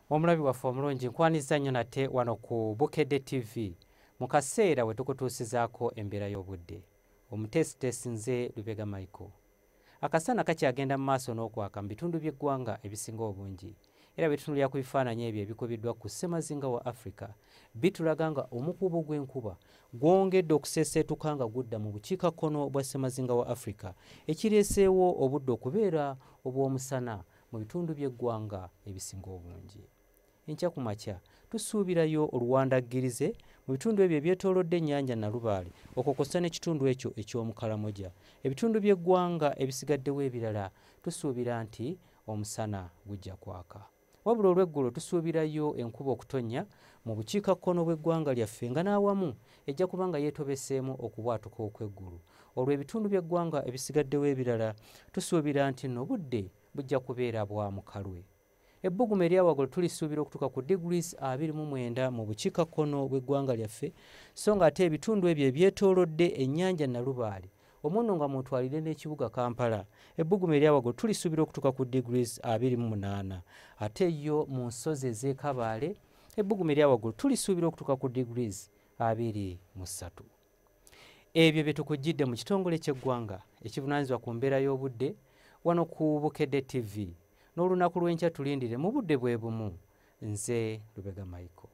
omulabi waffe omulungi nkwaniriza nnyo nate wano ku bukedde tv mu kaseera we tukutuusizaako embeera y'obudde omuteesiteesi nze lubega michael akasaana kakyagenda mu maaso n'okwaka mu bitundu by'eggwanga ebisinga obungi era bwetutunulira ku bifaananyi ebyo ebikubiddwa ku ssemazinga wa africa bitulaga nga omukuubo gw'enkuba gwongedde okuseeseetuka nga gudda mu bukiika kkono bwa ssemazinga wa africa ekireeseewo obudde okubeera obw'omusana mu bitundu by'eggwanga ebisinga obungi enkya ku makya tusuubirayo oluwandaggirize mu bitundu ebyo ebyetoolodde ennyanja nalubaale okwo kwossa n'ekitundu ekyo eky'omukalamoja ebitundu by'eggwanga ebisigaddewo ebirala tusuubira nti omusana gujja kwaka wabula olw'eggulo tusuubirayo enkuba okutonnya mu bukiikakkono bw'eggwanga lyaffe nga n'awamu ejja kuba nga yeetobeseemu okubwatuka okw'eggulu olwo ebitundu by'eggwanga ebisigaddewo ebirala tusuubira nti no budde bujja kubeera bwa mukalwe ebbuguma eryawagulu tulisuubira okutuuka ku degrees 29 mu bukiikakkono bw'eggwanga lyaffe so nga ate ebitundu ebyo ebyetoolodde ennyanja nalubaale omuno nga mutwalire n'ekibuga kampala ebbuguma eryawagulu tulisuubira okutuuka ku degrees 28 ate yo mu nsozi ez'ekabaale ebbugumu erya waggulu tulisuubira okutuuka ku degrees abiri mu ssatu ebyo bye tukujjidde mu kitongole ky'eggwanga ekivunaanyizibwa ku mbeera y'obudde wano ku bukedde tv n'olunaku lw'enkya tulindire mu budde bwe bumu nze lubega michael